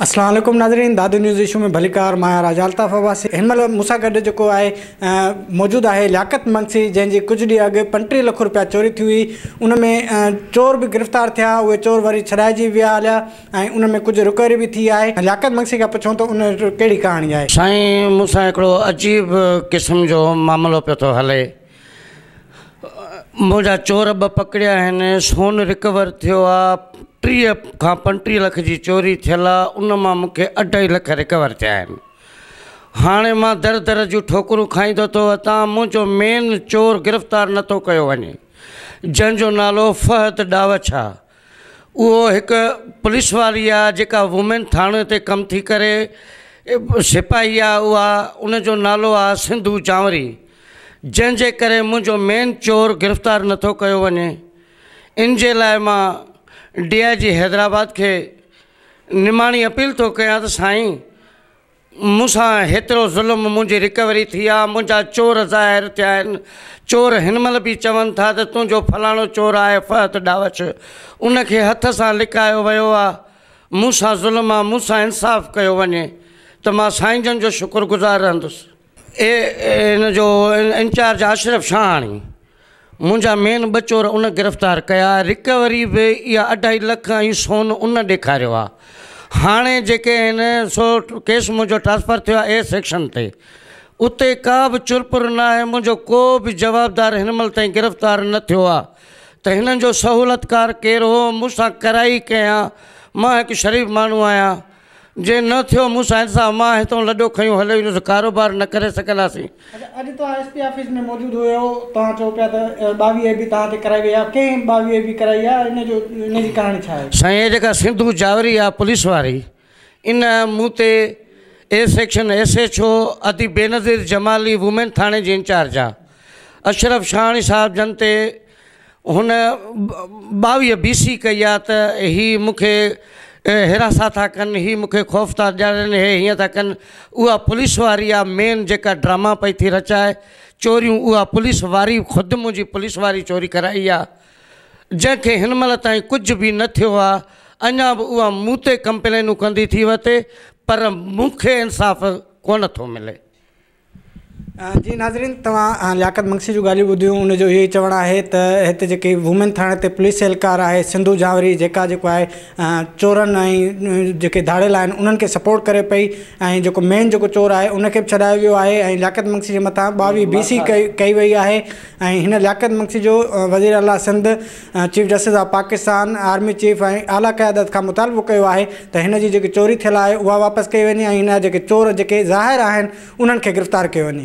السلام عليڪم ناظرين دادو نيوز ايشو ۾ ڀليڪار مان آهيان راجا الطاف عباسي هن مهل مون سان گڏ جيڪو آهي موجود آهي لياقت منگسي جنهن جي ڪجهه ڏينهن اڳ پنٽيهه لک روپيا چوري ٿي هئي ان ۾ چور به گرفتار ٿيا اهي چور وري ڇڏائجي ويا هليا ۽ ان ۾ ڪجهه رڪوري به ٿي آهي لياقت منگسي کان پڇون ته ان ڪهڙي ڪهاڻي آهي. سائين مون سان هڪڙو عجيب قسم جو معاملو پيو ٿو هلي منهنجا چور ٻه پڪڙيا آهن سون رڪور ٿيو آ ٽيهه کان پنٽيهه لک جي چوري ٿيل آ ان مان مونکي اڍائي لک رڪور ٿيا آهن هاڻي مان در در جون ٺوڪرون کائيندو ٿو اتان منهنجو مين چور گرفتار نٿو ڪيو وڃي جنهن جو نالو فهد ڏاوڇ آ اهو هڪ پوليس واري آ جيڪا وومين ٿاڻي تي ڪم ٿي ڪري سپاهي آ اها ان جو نالو آ سنڌو جانوري جنهن جي ڪري منهنجو مين چور گرفتار نٿو ڪيو وڃي ان جي لاء مان ڊي آء جي حيدرآباد کي نماڻي اپيل ٿو ڪيان ته سائين مون سان هيترو ظلم، منهنجي رڪوري ٿي آ، منهنجا چور ظاهر ٿيا آهن، چور هن مهل به چون ٿا ته تنهنجو فلاڻو چور آهي فهد ڊاوچ، ان کي هٿ سان لڪايو ويو آ، مون سان ظلم آ، مون سان انصاف ڪيو وڃي ته مان سائين جن جو شڪر گذار رهندس. اي اين جو انچارج اشرف شاهاڻي منهنجا مين ٻه چور ان گرفتار ڪيا رڪوري به اها اڍائي لک ۽ سون ان ڏيکاريو آ هاڻي جيڪي آهن سو ڪيس منهنجو ٽرانسفر ٿيو آ اي سيڪشن تي اتي ڪا به چرپر نه آهي منهنجو ڪو به جوابدار هن مهل تائين گرفتار نه ٿيو آ ته هنن جو سهولتڪار ڪير هو مون سان ڪرائي ڪنهن آ مان هڪ شريف ماڻهو آهيان جي نه ٿيو مون سائين صاحب مان هتئون لڏو کنيو هليو ايندس ڪاروبار نه ڪري سگهنداسين. اچا اڄ توهان ايس پي آفيس ۾ موجود هيو توهان چئو پيا ته ٻاويهه اي بي توهان تي ڪرائي وئي آهي ڪنهن ٻاويهه اي بي ڪرائي آهي ان جو ان جي ڪهاڻي ڇا آهي. سائين هي جيڪا سنڌو جاوري آهي پوليس واري ان مون تي A section S H O ادي بينظير جمالي وومين ٿاڻي جي انچارج آهي اشرف شاهاڻي صاحب جن تي هن ٻاويهه بي سي ڪئي آ ته هي مون کي هراسان ٿا ڪن، هي مون کي خوف ٿا ڏيارين، هي هيئن ٿا ڪن. اها پوليس واري آ مين جيڪا ڊراما پئي ٿي رچائي، چوريون اها پوليس واري خود منهنجي پوليس واري چوري ڪرائي آ، جنهن کي هن مهل تائين ڪجهه به نه ٿيو آ، اڃا به اها مون تي ڪمپلينون ڪندي ٿي وتي پر مون کي انصاف ڪونه ٿو ملي. جي ناظرين توهان لياقت منگسي جون ڳالهيون ٻڌيون ان جو اهو ئي چوڻ آهي ته هتي جيڪي وومين ٿاڻي تي پوليس اهلڪار آهي سنڌو جهاوري جيڪا جيڪو آهي چورن ۽ جيڪي ڌاڙيل آهن انهن کي سپورٽ ڪري پئي ۽ جيڪو مين جيڪو چور آهي ان کي به ڇڏايو ويو آهي ۽ لياقت منگسي جي مٿان ٻاويهه بي سي ڪئي وئي آهي ۽ هن لياقت منگسي جو وزيراعليٰ Sindh chief justice of Pakistan army chief ۽ اعليٰ قيادت کان مطالبو ڪيو آهي ته هن جي جيڪي چوري ٿيل آهي اها واپس ڪئي وڃي ۽ هن جا جيڪي چور جيڪي ظاهر آهن انهن کي گرفتار ڪيو وڃي.